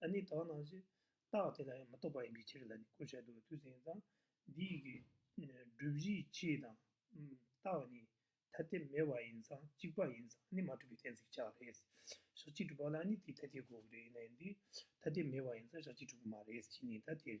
ལ་ནི་དག་སྣང་ཞེས་བཏགས་དེ་ལ་ཡང་མི་རྟོག་པ་ཡིན་པའི་ཕྱིར་ལ་ནི་གོ་བྱེད་དུ་དུས་གསུངས་ཙང་འདིའི་གི་སྒྲུབ་གཞིའི་ཕྱིའི་དང། རྟགས་ནི་ཐ་དད་མེད་པ་ཡིན་ཙང་གཅིག་པ་ཡིན་ཙང་ནི་མ་གྲུབ་པའི་གཏན་ཚིགས་ཆགས་རེད། ཞག་གཅིག་གྲུབ་པ་ལ་ནི་དེའི་ཐ་དད་གོ་རེ་ན་འདི་ཐ་དད་མེད་པ་ཡིན་ཙང་ཞག་གཅིག་གྲུབ་ཀྱི་མ་རེད་ཅེས་ནི་ད་དེ།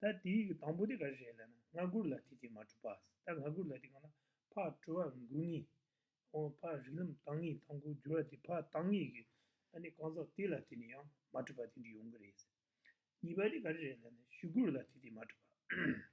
ད་དེའི་དང་པོ་དེ་ག་རེ་རེད་ལ་ན་སྔ་མགུར་ལ་དེ་དེ་མ་གྲུབ་པ་ད་སྔ་མགུར་ལ་དེ་གང་ན་ཕ་གྲོལ་བར་འགུགས་ངེས་ཨོ་ཕ་རིག་ལམ་བཏང་ངེས་དང་པོ་འགྱུར་བ་དེ་ཕ་བཏང་ངེས་ཀྱི་ཨ་ནི་གང་ཟག་དེ་ལ་དེ་ནི་ཡང་མ་གྲུབ་པ་དེ་འདྲི་ཡོང་གི་རེད་གཉིས་པ་དེ་ག་རེ་རེད་ལ་ན་ཞུ་མགུར་ལ་དེ་དེ་མ་གྲུབ་པ།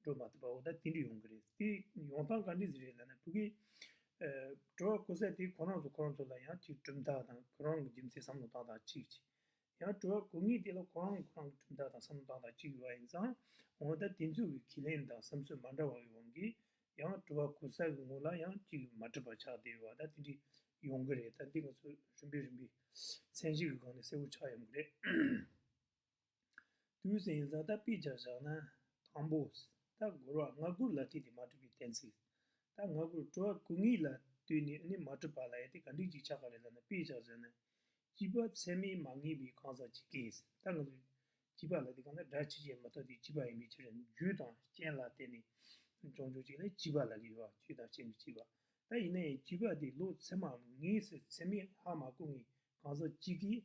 འགྲོ་མ་ཐུབ་པ་འོ་ད་དེ་འདྲི་ཡོང་གི་རེད་དེ་ཡོང་སྟངས་ག་འདྲི་ཟེར་རེད་ལབ་ན་བུ་གི། འགྲོ་བ་ཀོ་ཟད་དེ་ཁོ་རང་ཚོ་ཁོ་རང་ཚོ་ལ་ཡང་ཅིག་གྲུབ་མཐའ་དང་ཁོ་རང་གི་རྒྱུ་མཚན་བསམ་བློ་བཏང་དང་ཅིག་ཅིག། ཡང་འགྲོ་བ་གོ་ངེས་དེ་ལ་ཁོ་རང་ཁོ་རང་གི་གྲུབ་མཐའ་དང་བསམ་བློ་བཏང་དང་ཅིག་ཡོད་པ་ཡིན་ཙང་འོ་ད་དེ་ཚོ་གི་ཁས་ལེན་དང་བསམ་ཚུལ་མ་འདྲ་བ་གི་དབང་གིས་ཡང་འགྲོ་བ་ཀོ་ཟད་གི་ངོ་ལ་ཡང་ཅིག་མ་འགྲིབ་པ་ཆགས་དེ་འོ་ད་དེ་འདྲི་ཡོང་གི་རེད་ད་འདི་ང་ཚོ་རིམ་པས་རིམ་པས་མཚན་གཞི་གི་སྒང་ནས་གསལ་བོ་ཆགས་ཡོང་གི་རེད། དུས་གསལ་ཡིན་ཙང་ད་དཔེ་ཅིག་བཞག་ན། དང་པོ། ད་སྒོར་བ་ང་དགུ་ལ་ཐིག་དེ་མ་གྲུབ་པའི་གཏན་ཚིགས། ད་ང་དགུར་སྤྲོ་བ་གུ་ངེས་ལ་དུས་ནས་ནི་མ་གྲུབ་པ་ལ་ཡ་དེ་ག་འགྲིག་ཅིག་ཆགས་པ་རེད་ལབ་ན་དཔེ་ཅིག་བཞག་ན། བྱིས་པ་ཚད་མས་མ་ངེས་པའི་གང་ཟག་ཅིག་གིས་ད་ང་ཚོ་བྱིས་པ་ལ་དེ་ག་ན་སྒྲ་ཇི་བཤད་མ་ཐག་དེ་བྱིས་པ་ཡིན་པའི་ཕྱིར་རྒྱུ་དང་རྐྱེན་ལ་བརྟེན་ནས་འབྱུང་འཇུག་ཅིག་ལ་བྱིས་པ་ལ་གི་བ་བྱུས་དང་བྱས་མི་བྱིས་པ་ད་ཡིན་ན་ཡང་བྱིས་པ་དེ་ལོ་ཚད་མའམ་ངེས་ཚད་མས་ཧ་མ་གོ་ངེས་གང་ཟག་ཅིག་གིས་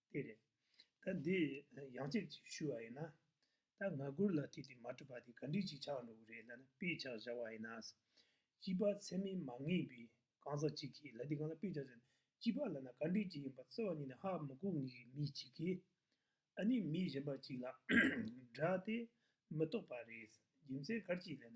དེ་རེད། ད་འདི་ཡང་གཅིག་ཅིག་ཞུ་བ་ཡིན་ན། ད་ང་དགུར་ལ་དེ་དེ་མ་གྲུབ་པ་དེ་ག་འགྲིག་ཅིག་ཆགས་འགྲོ་གི་རེད་ལ་ན་དཔེ་ཆགས་བཞག་བ་ཡིན་ན། སྐྱིད་པ་ཚད་མེད་མ་ངེས་པའི་གང་ཟག་ཅིག་གིས་ལ་དེ་གང་ལ་དཔེ་ཆགས་ཟེར་ན་སྐྱིད་པ་ལ་ན་ག་འགྲིག་ཅིག་ཡིན་པ་བརྩེ་བ་ཉིད་ནས་ཧ་མི་གོ་ངེས་ཀྱི་མི་ཅིག་གིས། ཨ་ནི་མི་གཞན་པ་ཅིག་ལ་སྒྲ་དེ་མི་རྟོགས་པ་རེད་རྒྱུ་མཚན་ག་ཅིག་ལ་ན།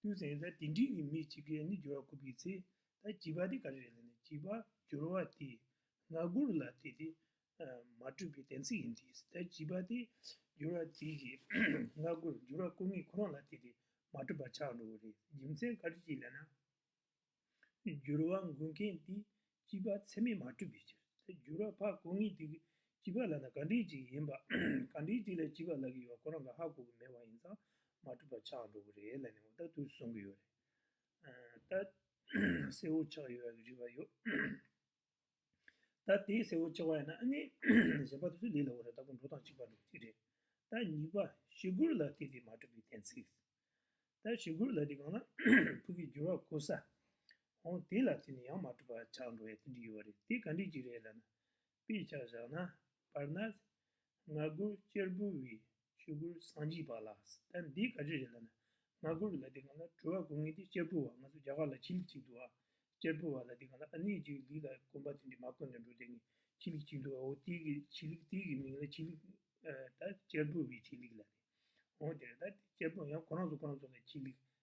དུས་ཟིན་ཚེ་དེ་འདྲིས་ཀྱི་མི་གཅིག་གིས་ནི་སྦྱོར་བ་བསྐུར་བའི་ཚེ། ད་བགྱིས་པ་དེ་ག་རེ་རེད་ལ་ནི་བགྱིས་པ་སྦྱོར་བ་དེས་ང་བསྐུར་ལ་དེ་དེ་མ་སྤྲོད་པའི་གཏན་ཚིགས་ཡིན་ཏེ། ད་བགྱིས་པ་དེ་སྦྱོར་བ་དེ་གིས་ང་བསྐུར་སྦྱོར་བ་བསྐུར་ངེས་ཁོ་རང་ལ་དེ་དེ་མ་སྤྲོད་པར་ཆགས་འགྲོ་བ་རེད་རྒྱུ་མཚན་ག་རེ་ཞིག་ལས་ན། སྦྱོར་བ་འགུགས་མཁན་དེ་སྐྱིད་པ་ཚད་མས་མ་གྲུབ་པའི་ཕྱིར། སྦྱོར་བ་ཕག་གོ་ངེས་དེ་སྐྱིད་པ་ལ་ན་ག་འདྲས་ཅིག་ཡིན་པ། ག་འདྲས་ཅིག་ལ་སྐྱིད་པ་ལ་གི་ཡོད་ཁོ་རང་གི་ཧ་གོ་གི་མེད་པ་ཡིན་ཙང་མ་གྲུབ་པ་ཆགས་འགྲོ་གི་རེད་ལ་ནི་འོ་ད་དུ་གསུང་གི་ཡོད་རེད། ད། གསལ་བོ་ཆགས་ཡོད་རེད་པ་ཡོད། ད་དེའི་གསལ་བོ་ཆེ་བ་ཡིན་ན་ཨ་ནི། གཞན་པ་དེ་ཚོའི་ལས་ལ་འོ་རེ་ལྟ་བུ་འགྲོ་དང་གཅིག་པ་འགྲོ་གཅིག་རེད། ད་གཉིས་པ་ཞི་གུར་ལ་དེ་དེ་མ་གྲུབ་པའི་གཏན་ཚིགས། ད་ཞི་གུར་ལ་དེ་གང་ན་ཕུག་གི་འགྱུར་བ་གོ་ས། འོང་དེ་ལ་དེ་ནི་ཡང་མ་གྲུབ་པ་ཆགས་འགྲོ་བས་དེ་འདྲི་ཡོད་རེད་དེ་ག་འདྲི་གཅིག་རེད་ལ་ན། དཔེ་ཆ་བཞག་ན། བར་ན། ང་དགུ་གཅེར་བུ་བའི་ཆོས་གོས་བསང་བགྱིས་པ་ལ་ད་འདི་ག་རེ་རེད་ལ་ན། ང་དགུར་བ་ལ་འདི་ག་ལ་གྲོལ་བ་གོ་ངེས་ཏེ་གཅེར་བུ་བ་ང་ཚོ་རྒྱ་གར་ལ་ཁྱི་ལིག་ཅིག་འདུག་ཨ། གཅེར་བུ་བ་ལ་འདི་ག་ལ་ཨ་ནི་ཅིག་ལིག་ལ་དཀོན་པ་དེ་འདྲས་མ་དཀོན་དུ་འགྲོ་དེ་ནི་ཁྱི་ལིག་ཅིག་འདུག་ཨ་འོ་དེ་གི་ཁྱི་ལིག་དེ་གི་མིང་ལ་ཁྱི་ལིག་ད་གཅེར་བུ་བའི་ཁྱི་ལིག་ལ་ནི་འོང་དེ་རེད་ད་དེ་གཅེར་བུ་ཡང་གོ་རང་ཚོ་གོ་རང་ཚོ་ལ་ཁྱི་ལིག་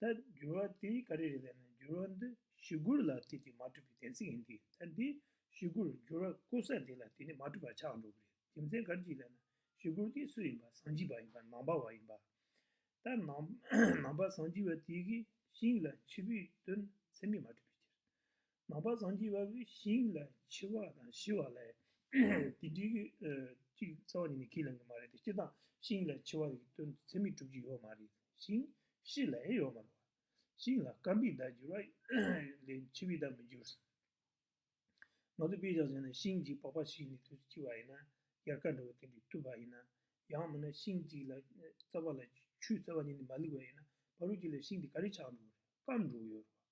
ད་འགྱུར་བ་དེ་ག་རེ་རེད་ལབ་ན་འགྱུར་བ་འདི་ཞི་རྒོལ་ལ་དེ་དེ་མ་གྲུབ་པའི་གཏན་ཚིགས་ཡིན་གྱི་ད་འདི་ཞི་རྒོལ་འགྱུར་བ་ཀོ་ས་དེ་ལ་དེ་ནི་མ་གྲུབ་པ་ཆགས་འགྲོ་གི་རེད་རྒྱུ་མཚན་ག་རེ་གྱིས་ལབ་ན་ཞི་རྒོལ་དེ་སུ་ཡིན་པ་ཟངས་སྐྱི་བ་ཡིན་པ་ནང་པ་བ་ཡིན་པ་ད་ནང་པ་ཟངས་སྐྱི་བ་དེ་གི་ཤིང་ལ་འཆི་བུས་བཏོན་ཚེ་མི་མ་གྲུབ་པའི་ཕྱིར། ནང་པ་སངས་རྒྱས་དབང་པོའི་ཞིང་ལ་འཆི་བ་དང་ཤི་བ་ལས་དེ་འདྲི་གི། གཅིག་རྩ་བ་ཉིད་ནས་ཁས་ལེན་གི་མ་རེད་དེ་སྤྱིར་བཏང་ཞིང་ལ་འཆི་བ་ཡི་དོན་དུ་ཚད་མེད་གྲུབ་ཀྱི་ཡོད་མ་རེད་ཞིང་ཤི་ལ་ཡང་ཡོད་མ་རེད་བ། ཞིང་ལ་སྐམ་པའི་བརྡ་འགྱུར་བ་ལས་འཆི་བའི་བརྡ་མི་འགྱུར། ང་ཚོས་དཔེ་བཞག་བྱས་ན་ཤིང་གཅིག་པགས་པ་ཞིག་ནས་དུས་སུ་འཆི་བ་ཡིན་ན་ཡར་ཀ་འདྲ་བོ་དེ་འདྲའི་བཏུས་པ་ཡིན་ན། ཡང་མིན་ན་ཤིང་གཅིག་ལ་རྩ་བ་ལ་ཆུའི་རྩ་བ་ཉིད་ནས་མ་ལུས་པ་ཡིན་ན་བ་རུ་འགྱུར་ལ་ཤིང་དེ་ག་རེ་ཆགས་འགྲོ་གི་རེད་སྐམ་འགྲོ་གི་ཡོད་རེད་བ།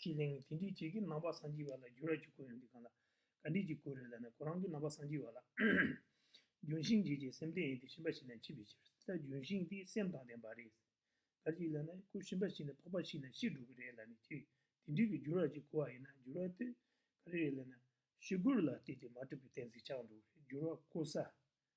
ཁྱི་གླིང་གི་དེ་འདྲའི་བྱེས་ཀྱི་རྣམ་པ་སངས་རྒྱས་པ་ལ་རྒྱུ་ར་ཅིག་གོ་ཡོང་འདི་གང་ལ་ག་འདྲས་ཀྱི་གོ་རེད་ལ་ནི་ཁོ་རང་གི་རྣམ་པ་སངས་རྒྱས་པ་ལ་ལྗོན་ཤིང་འབྱེད་ཀྱི་སེམས་ལྡན་ཡིན་ཏེ་ཞིམ་པ་ཞིག་ན་འཆི་བའི་ཕྱིར་ད་ལྗོན་ཤིང་དེ་སེམས་དང་ལྡན་པ་རེད་ཟེར་ག་ཅིག་ལ་ནི་ཁོ་ཞིམ་པ་ཞིག་ན་ཕོག་པ་ཞིག་ན་ཤི་འགྲོ་གི་རེད་ལ་ནི་ཁྱི་དེ་འདྲས་ཀྱི་རྒྱུ་ར་ཅིག་གོ་བ་ཡིན་ན་རྒྱུ་ར་དེ་ག་རེ་རེད་ལ་ནི་ཤི་སྒོར་ལ་བལྟས་ཏེ་མ་གྲུབ་པའི་གཏན་ཚིགས་ཆགས་འགྲོ་གི་རེད་རྒྱུ་ར་གོ་ས་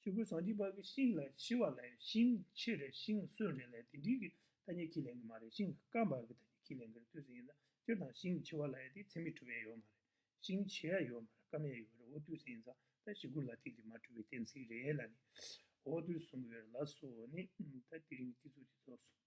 ཆོས་ཀུན་སངས་རྒྱས་བར་གྱི་ཤིང་ལ་ཞི་བ་ལས་ཤིང་ཆེ་རེ་ཤིང་གསོན་རེ་ལས་དེ་འདྲིས་ཀྱི་ཐ་སྙད་ཁས་ལེན་གྱི་མ་རེད་ཤིང་སྐམ་བར་གྱི་ཐ་སྙད་ཁས་ལེན་གྱི་རེད་ལྟོས་ཟིན་ཡིན་ཙང་སྤྱིར་བཏང་ཤིང་ཆེ་བ་ལ་ཡ་དེ་ཚད་མས་གྲུབ་པའི་ཡ་ཡོད་མ་རེད་ཤིང་ཆེ་ཡ་ཡོད་མ་རེད་སྐམ་ཡ་ཡོད་རེད་འོ་ལྟོས་ཟིན་ཡིན་ཙང་ད་ཞི་རྒོལ་ལ་ཐིག་དེ་མ་གྲུབ་པའི་གཏན་ཚིགས་རེད་ལ་ནི་འོ་ལྟོས་གསུང་གི་ཡོད་རེད་ལ་སོ་ནི་ད་དེ་རིང་གི་ཐིག་ཚུགས་དེ་རྫོགས་སོང།